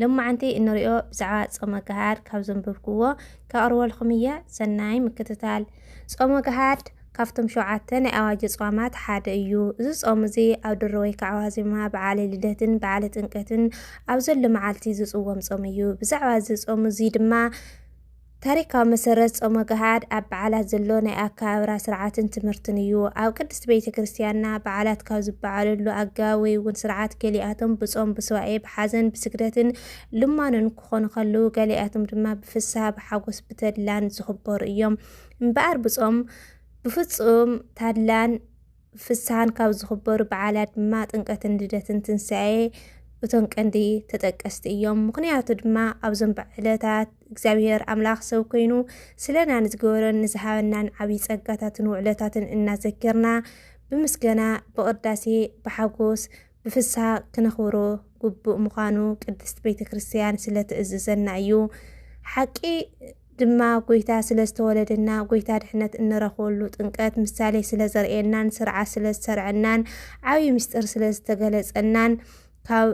ሎማዓንቲ እንሪኦ ብዛዕባ ጾመ ገሃድ ካብ ዘንብብክዎ ከቅርበልኩም እየ ሰናይ ምክትታል። ጾመ ገሃድ ካብቶም ሸውዓተ ናይ ኣዋጅ ጾማት ሓደ እዩ። እዚ ጾም እዚ ኣብ ድሮ ወይ ከዓ ዋዜማ በዓለ ልደትን በዓለ ጥምቀትን ኣብ ዘሎ መዓልቲ ዝጽወም ጾም እዩ። ብዛዕባ እዚ ጾም እዚ ድማ ታሪካዊ መሰረት ጾመ ገሃድ ኣብ በዓላት ዘሎ ናይ ኣከባብራ ስርዓትን ትምህርትን እዩ። ኣብ ቅድስቲ ቤተ ክርስቲያንና በዓላት ካብ ዝበዓለሉ ኣገባብ ወይ እውን ስርዓት ገሊኣቶም ብጾም፣ ብስዋኤ፣ ብሓዘን፣ ብስግደትን ልማኖን ክኾኑ ከለዉ ገሊኣቶም ድማ ብፍስሃ፣ ብሓጎስ፣ ብተድላን ዝኽበሩ እዮም። እምበኣር ብጾም ብፍጹም ታድላን ፍስሃን ካብ ዝኽበሩ በዓላት ድማ ጥምቀትን ልደትን ትንሣኤ እቶም ቀንዲ ተጠቀስቲ እዮም። ምኽንያቱ ድማ ኣብዞም ዕለታት እግዚኣብሔር ኣምላኽ ሰብ ኮይኑ ስለና ንዝገበሮን ንዝሃበናን ዓብዪ ጸጋታትን ውዕለታትን እናዘከርና ብምስጋና ብቅዳሴ ብሓጎስ ብፍስሃ ክነኽብሮ ግቡእ ምዃኑ ቅድስት ቤተ ክርስቲያን ስለ ትእዝዘና እዩ። ሓቂ ድማ ጎይታ ስለ ዝተወለደና ጎይታ ድሕነት እንረኽበሉ ጥምቀት ምሳሌ ስለ ዘርእየናን ስርዓት ስለ ዝሰርዐናን ዓብዪ ምስጢር ስለ ዝተገለጸናን ካብ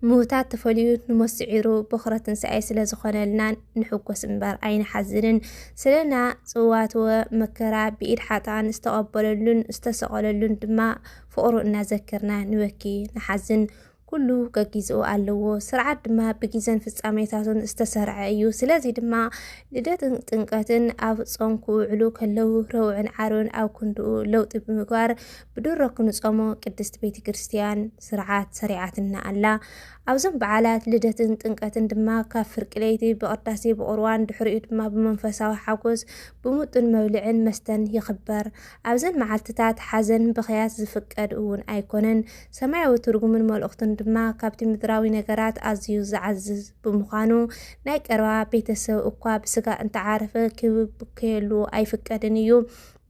ምዉታት ተፈልዩ ንሞት ስዒሩ ቦኽረ ትንሣኤ ስለ ዝኾነልና ንሕጎስ እምበር ኣይንሓዝንን። ስለና ጽዋትወ መከራ ብኢድ ሓጥኣን ዝተቐበለሉን ዝተሰቐለሉን ድማ ፍቕሩ እናዘከርና ንበኪ ንሓዝን ኩሉ ገጊዝኡ ኣለዎ ስርዓት ድማ ብግዘን ፍጻሜታቱን ዝተሰርዐ እዩ ስለዚ ድማ ልደትን ጥምቀትን ኣብ ጾም ክውዕሉ ከለዉ ረውዕን ዓርብን ኣብ ክንድኡ ለውጢ ብምግባር ብድሮ ክንጾሞ ቅድስት ቤተ ክርስትያን ስርዓት ሰሪዓትና ኣላ ኣብዞም በዓላት ልደትን ጥምቀትን ድማ ካብ ፍርቂ ለይቲ ብቅዳሴ ብቁርዋን ድሕሪኡ ድማ ብመንፈሳዊ ሓጎስ ብሙጡን መብልዕን መስተን ይኽበር ኣብዘን መዓልትታት ሓዘን ብኽያት ዝፍቀድ እውን ኣይኮነን። ሰማያዊ ትርጉምን መልእኽቱን ድማ ካብቲ ምድራዊ ነገራት ኣዝዩ ዝዓዝዝ ብምዃኑ፣ ናይ ቀረባ ቤተ ሰብ እኳ ብስጋ እንተዓረፈ ክብከየሉ ኣይፍቀድን እዩ።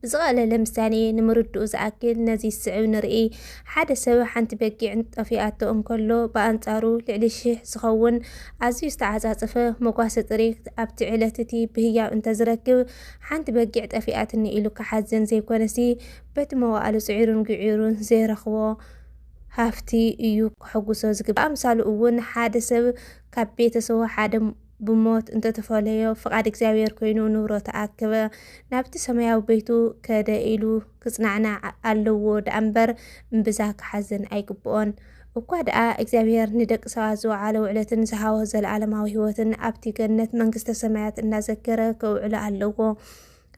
ብዝቐለለ ምሳሌ ንምርድኡ ዝኣክል ነዚ ዝስዕብ ንርኢ። ሓደ ሰብ ሓንቲ በጊዕ ጠፊኣቶ እንከሎ፣ ብኣንጻሩ ልዕሊ ሽሕ ዝኸውን ኣዝዩ ዝተዓጻጸፈ መጓሰ ጥሪት ኣብቲ ዕለት እቲ ብህያብ እንተዝረክብ፣ ሓንቲ በጊዕ ጠፊኣትኒ ኢሉ ክሓዝን ዘይኮነሲ በቲ መዋእሉ ጽዒሩን ግዒሩን ዘይረኽቦ ሃፍቲ እዩ ከሐጉሶ ዝግባእ። ብኣምሳሉ እውን ሓደ ሰብ ካብ ቤተሰቡ ሓደ ብሞት እንተተፈለዮ ፍቃድ እግዚኣብሔር ኮይኑ ንብረቱ ኣከበ ናብቲ ሰማያዊ ቤቱ ከደ ኢሉ ክጽናዕናዕ ኣለዎ ደኣ እምበር እምብዛ ክሓዝን ኣይግብኦን። እኳ ደኣ እግዚኣብሄር ንደቂ ሰባት ዝወዓሎ ውዕለትን ዝሃቦ ዘለኣለማዊ ህይወትን ኣብቲ ገነት መንግስተ ሰማያት እናዘከረ ከውዕሎ ኣለዎ።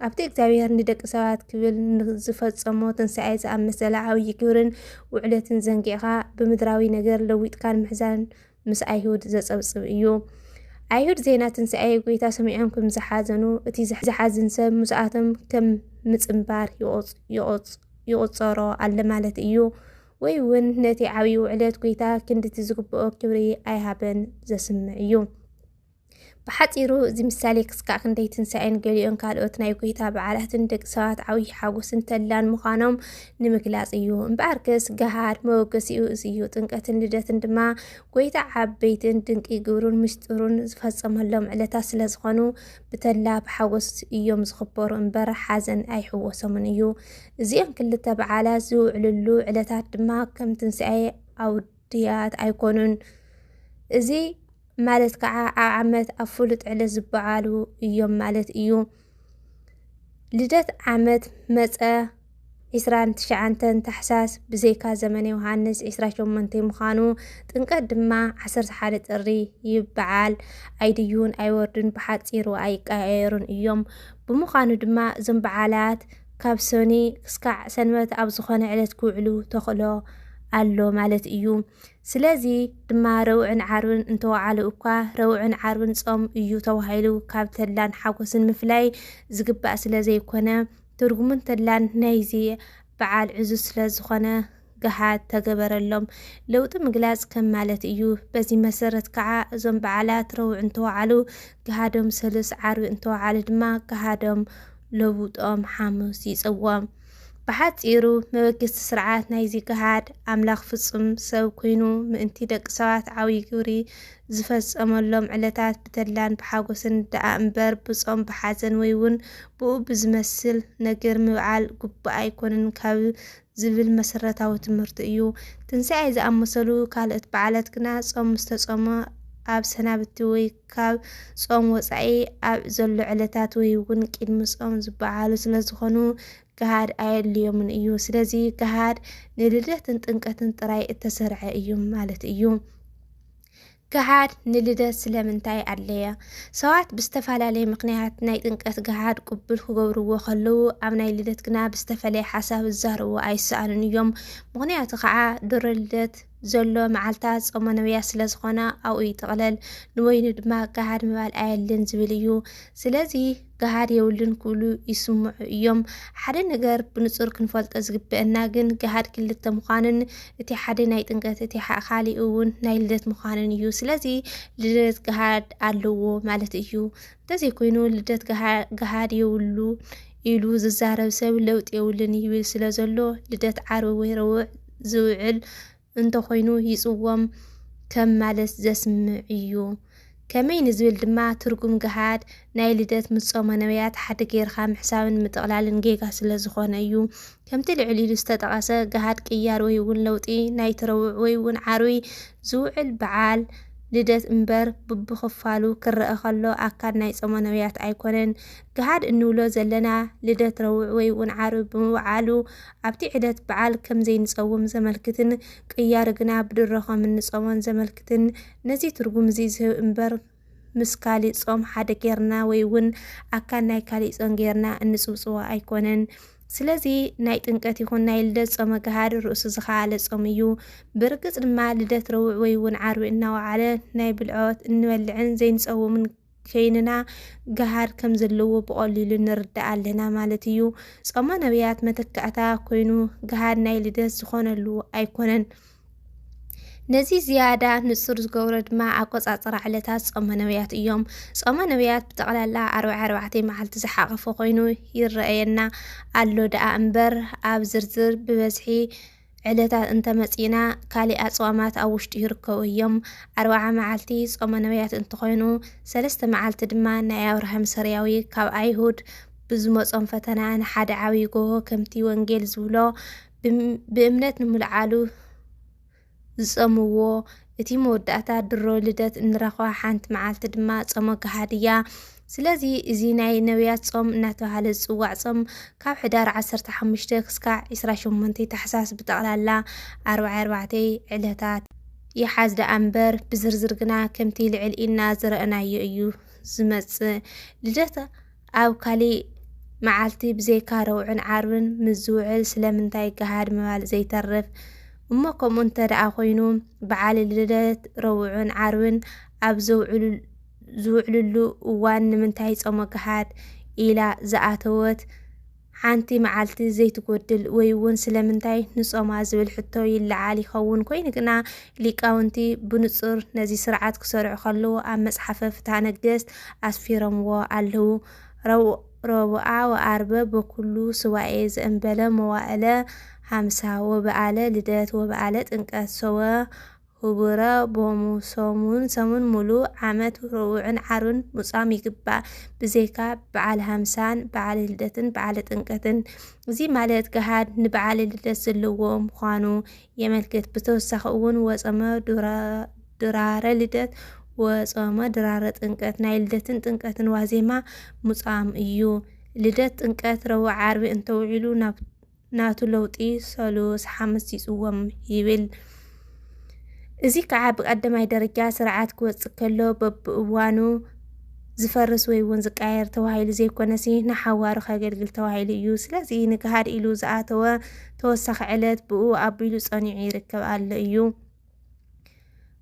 ኣብቲ እግዚኣብሄር ንደቂ ሰባት ክብል ንዝፈጸሞ ትንሳኤ ዝኣመሰለ ዓብዪ ግብርን ውዕለትን ዘንጊዕካ ብምድራዊ ነገር ለዊጥካን ምሕዛን ምስ ኣይሁድ ዘጸብጽብ እዩ። ኣይሁድ ዜና ትንሣኤ ጐይታ ሰሚዖም ከም ዝሓዘኑ እቲ ዝሓዝን ሰብ ምስኣቶም ከም ምጽንባር ይቖጸሮ ኣለ ማለት እዩ። ወይ እውን ነቲ ዓብዪ ውዕለት ጐይታ ክንድቲ ዝግብኦ ክብሪ ኣይሃበን ዘስምዕ እዩ። ብሓፂሩ እዚ ምሳሌ ክስካዕ ክንደይ ትንሳኤን ገሊኦን ካልኦት ናይ ጎይታ በዓላትን ደቂ ሰባት ዓብዪ ሓጎስን ተላን ምዃኖም ንምግላፅ እዩ። እምበኣር ከስ ገሃድ መወገሲኡ እዚ እዩ። ጥምቀትን ልደትን ድማ ጎይታ ዓበይትን ድንቂ ግብሩን ምስጢሩን ዝፈፀመሎም ዕለታት ስለ ዝኾኑ ብተላ ብሓጎስ እዮም ዝኽበሩ እምበር ሓዘን ኣይሕወሶምን እዩ። እዚኦም ክልተ በዓላት ዝውዕልሉ ዕለታት ድማ ከም ትንሳኤ ኣውድ ድያት ኣይኮኑን። እዚ ማለት ከዓ ኣብ ዓመት ኣብ ፍሉጥ ዕለት ዝበዓሉ እዮም ማለት እዩ። ልደት ዓመት መፀ 29 ታሕሳስ ብዘይካ ዘመነ ዮሃንስ 28 ምዃኑ፣ ጥምቀት ድማ 11 ጥሪ ይበዓል። ኣይድዩን፣ ኣይወርዱን፣ ብሓፂሩ ኣይቀያየሩን እዮም። ብምዃኑ ድማ እዞም በዓላት ካብ ሰኒ ክስካዕ ሰንበት ኣብ ዝኾነ ዕለት ክውዕሉ ተኽእሎ ኣሎ ማለት እዩ። ስለዚ ድማ ረውዕን ዓርብን እንተወዓሉ እኳ ረውዕን ዓርብን ጾም እዩ ተባሂሉ ካብ ተላን ሓጎስን ምፍላይ ዝግባእ ስለ ዘይኮነ ትርጉምን ተላን ናይዚ በዓል ዕዙዝ ስለ ዝኾነ ገሃድ ተገበረሎም። ለውጢ ምግላጽ ከም ማለት እዩ። በዚ መሰረት ከዓ እዞም በዓላት ረቡዕ እንተወዓሉ ገሃዶም ሰሉስ፣ ዓርቢ እንተወዓሉ ድማ ገሃዶም ለውጦም ሓሙስ ይጽዎም። ብሓጺሩ መበገስቲ ስርዓት ናይዚ ገሃድ ኣምላኽ ፍጹም ሰብ ኮይኑ ምእንቲ ደቂ ሰባት ዓብዪ ግብሪ ዝፈጸመሎም ዕለታት ብተድላን ብሓጎስን ደኣ እምበር ብጾም ብሓዘን ወይ እውን ብኡ ብዝመስል ነገር ምብዓል ግቡእ ኣይኮንን ካብ ዝብል መሰረታዊ ትምህርቲ እዩ። ትንሳኤ ዝኣመሰሉ ካልእት በዓላት ግና ጾም ምስ ተጾመ ኣብ ሰናብቲ ወይ ካብ ጾም ወጻኢ ኣብ ዘሎ ዕለታት ወይ እውን ቅድሚ ጾም ዝበዓሉ ስለ ዝኾኑ ገሃድ ኣየድልዮምን እዩ። ስለዚ ገሃድ ንልደትን ጥምቀትን ጥራይ እተሰርዐ እዩ ማለት እዩ። ገሃድ ንልደት ስለምንታይ ኣድለየ? ሰባት ብዝተፈላለየ ምኽንያት ናይ ጥምቀት ገሃድ ቅቡል ክገብርዎ ከለዉ፣ ኣብ ናይ ልደት ግና ብዝተፈለየ ሓሳብ ዝዛረቡ ኣይሰኣኑን እዮም። ምኽንያቱ ከዓ ድሮ ልደት ዘሎ መዓልታት ጾመ ነቢያት ስለ ዝኾና ኣብኡ ይጥቕለል፣ ንበይኑ ድማ ገሃድ ምባል ኣየድልን ዝብል እዩ። ስለዚ ገሃድ የብሉን ክብሉ ይስምዑ እዮም። ሓደ ነገር ብንጹር ክንፈልጦ ዝግበአና ግን ገሃድ ክልተ ምዃንን እቲ ሓደ ናይ ጥምቀት እቲ ካሊእ እውን ናይ ልደት ምዃንን እዩ። ስለዚ ልደት ገሃድ ኣለዎ ማለት እዩ። እንተዘይኮይኑ ልደት ገሃድ የብሉ ኢሉ ዝዛረብ ሰብ ለውጢ የብሉን ይብል ስለ ዘሎ ልደት ዓርቢ ወይ ረቡዕ ዝውዕል እንተኾይኑ ይጽዎም ከም ማለት ዘስምዕ'ዩ። ከመይ ንዝብል ድማ ትርጉም ገሃድ ናይ ልደት ምስ ጾመ ነብያት ሓደ ገይርካ ምሕሳብን ምጥቕላልን ጌጋ ስለ ዝኾነ እዩ። ከምቲ ልዕል ኢሉ ዝተጠቐሰ ገሃድ ቅያር ወይ እውን ለውጢ ናይቲ ረቡዕ ወይ እውን ዓርቢ ዝውዕል በዓል ልደት እምበር ቡብኽፋሉ ክረኣ ከሎ ኣካል ናይ ጾመ ነብያት ኣይኮነን። ገሃድ እንብሎ ዘለና ልደት ረቡዕ ወይ'ውን ዓርቢ ብምውዓሉ ኣብቲ ዕለት በዓል ከም ዘይንጸውም ዘመልክትን ቅያር ግና ብድሮ ከም እንጾሞን ዘመልክትን ነዚ ትርጉም'ዚ ዝህብ እምበር ምስ ካሊእ ጾም ሓደ ጌርና ወይ'ውን ኣካል ናይ ካሊእ ጾም ጌርና እንጽውጽዎ ኣይኮነን። ስለዚ ናይ ጥምቀት ይኹን ናይ ልደት ጾመ ገሃድ ርእሱ ዝኸኣለ ጾም እዩ። ብርግጽ ድማ ልደት ረቡዕ ወይ'ውን ዓርቢ እናወዓለ ናይ ብልዖት እንበልዕን ዘይንጸውምን ኴይንና ገሃድ ከም ዘለዎ ብቐሊሉ ንርዳእ ኣለና ማለት እዩ። ጾመ ነቢያት መተካእታ ኮይኑ ገሃድ ናይ ልደት ዝኾነሉ ኣይኮነን። ነዚ ዝያዳ ንጹር ዝገብሮ ድማ ኣቆጻጽራ ዕለታት ጾመ ነብያት እዮም። ጾመ ነብያት ብጠቕላላ ኣርብዓ ኣርባዕተ መዓልቲ ዝሓቐፈ ኮይኑ ይረኣየና ኣሎ ደኣ እምበር ኣብ ዝርዝር ብበዝሒ ዕለታት እንተ መጺእና ካሊእ ኣጽዋማት ኣብ ውሽጢ ይርከቡ እዮም። ኣርብዓ መዓልቲ ጾመ ነብያት እንትኾይኑ ሰለስተ መዓልቲ ድማ ናይ ኣብርሃም ሰርያዊ ካብ ኣይሁድ ብዝመጾም ፈተና ንሓደ ዓብይ ጎሆ ከምቲ ወንጌል ዝብሎ ብእምነት ንምልዓሉ ዝጸምዎ እቲ መወዳእታ ድሮ ልደት እንረኽባ ሓንቲ መዓልቲ ድማ ጾመ ገሃድያ ስለዚ እዚ ናይ ነብያት ጾም እናተባህለ ዝጽዋዕ ጾም ካብ ሕዳር ዓሰርተ ሓሙሽተ ክስካዕ ዕስራ ሸሞንተ ታሕሳስ ብጠቕላላ ኣርብዓይ ኣርባዕተይ ዕለታት ይሓዝ ደኣ እምበር ብዝርዝር ግና ከምቲ ልዕል ኢልና ዝረእናዮ እዩ ዝመጽእ። ልደት ኣብ ካሊእ መዓልቲ ብዘይካ ረቡዕን ዓርብን ምስ ዝውዕል ስለምንታይ ገሃድ ምባል ዘይተርፍ? እሞ ከምኡ እንተ ደኣ ኮይኑ በዓል ልደት ረቡዕን ዓርብን ኣብ ዘውዕሉ ዝውዕልሉ እዋን ንምንታይ ጾመ ገሃድ ኢላ ዝኣተወት ሓንቲ መዓልቲ ዘይትጎድል ወይ እውን ስለምንታይ ንጾማ ዝብል ሕቶ ይለዓል ይኸውን። ኮይኑ ግና ሊቃውንቲ ብንጹር ነዚ ስርዓት ክሰርዑ ከለዉ ኣብ መጽሓፈ ፍትሐ ነገሥት ኣስፊሮምዎ ኣለዉ። ረቡዓ ወኣርበ በኩሉ ስዋኤ ዘእንበለ መዋእለ ሃምሳ ወበኣለ ልደት ወበኣለ ጥንቀት ሰወ ህቡረ ቦሙ ሰሙን ሰሙን ሙሉእ ዓመት ረቡዕን ዓርብን ምጻም ይግባእ ብዘይካ በዓል ሃምሳን በዓል ልደትን በዓል ጥምቀትን እዚ ማለት ገሃድ ንበዓል ልደት ዘለዎ ምዃኑ የመልክት ብተወሳኺ እውን ወጸመ ድራረ ልደት ወጸመ ድራረ ጥምቀት ናይ ልደትን ጥምቀትን ዋዜማ ምጻም እዩ ልደት ጥምቀት ረቡዕ ዓርቢ እንተውዒሉ ናብ ናቱ ለውጢ ሰሉስ ሓምስ ይጽዎም ይብል። እዚ ከዓ ብቀዳማይ ደረጃ ስርዓት ክወፅእ ከሎ በብእዋኑ ዝፈርስ ወይ እውን ዝቃየር ተባሂሉ ዘይኮነሲ ንሓዋሩ ከገልግል ተባሂሉ እዩ። ስለዚ ንግሃድ ኢሉ ዝኣተወ ተወሳኺ ዕለት ብኡ ኣቢሉ ጸኒዑ ይርከብ ኣሎ እዩ።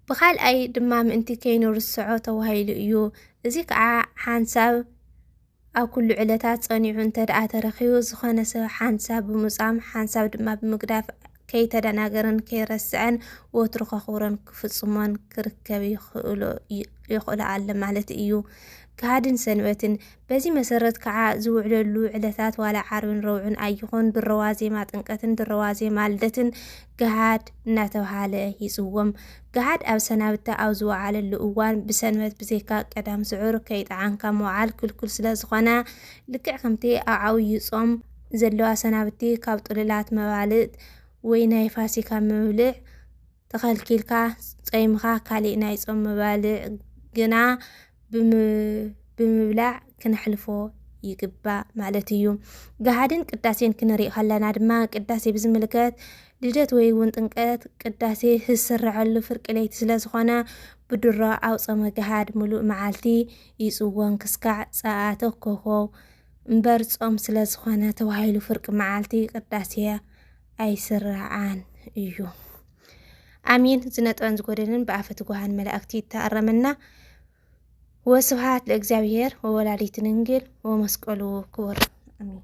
ብካልኣይ ድማ ምእንቲ ከይኑ ርስዖ ተባሂሉ እዩ። እዚ ከዓ ሓንሳብ ኣብ ኩሉ ዕለታት ጸኒዑ እንተድኣ ተረኺቡ፣ ዝኾነ ሰብ ሓንሳብ ብምውጻም ሓንሳብ ድማ ብምግዳፍ ከይተደናገረን ከይረስዐን ወትሩ ከኽብሮን ክፍጽሞን ክርከብ ይኽእሎ ኣሎ ማለት እዩ። ጋህድን ሰንበትን በዚ መሰረት ከዓ ዝውዕለሉ ዕለታት ዋላ ዓርብን ረቡዕን ኣይኹን ድሮ ዋዜማ ጥምቀትን ድሮ ዋዜማ ልደትን ጋህድ እናተብሃለ ይጽወም። ገሃድ ኣብ ሰናብታ ኣብ ዝወዓለሉ እዋን ብሰንበት ብዘይካ ቀዳም ስዑር ከይጠዓንካ ምውዓል ክልኩል ስለ ዝኾነ ልክዕ ከምቲ ኣብ ዓብዩ ጾም ዘሎ ኣሰናብቲ ካብ ጥሉላት መባልእት ወይ ናይ ፋሲካ ምብልዕ ተኸልኪልካ ጾይምካ ካሊእ ናይ ጾም መባልዕ ግና ብምብላዕ ክነሕልፎ ይግባእ ማለት እዩ። ገሃድን ቅዳሴን ክንርኢ ከለና ድማ ቅዳሴ ብዝምልከት ልደት ወይ እውን ጥምቀት ቅዳሴ ዝስረዐሉ ፍርቂ ለይቲ ስለ ዝኾነ ብድሮ ኣብ ጾመ ገሃድ ምሉእ መዓልቲ ይፅወም ክስካዕ ፀኣተ ኮኾው እምበር ጾም ስለ ዝኾነ ተባሂሉ ፍርቂ መዓልቲ ቅዳሴ ኣይስራዓን እዩ። ኣሜን ዝነጥበን ዝጎደልን ብኣፈ ትጉሃን መላእክቲ ይተኣረመና ወስብሃት ለእግዚኣብሔር ወወላዲት ድንግል ወመስቀሉ ክቡር ኣሜን።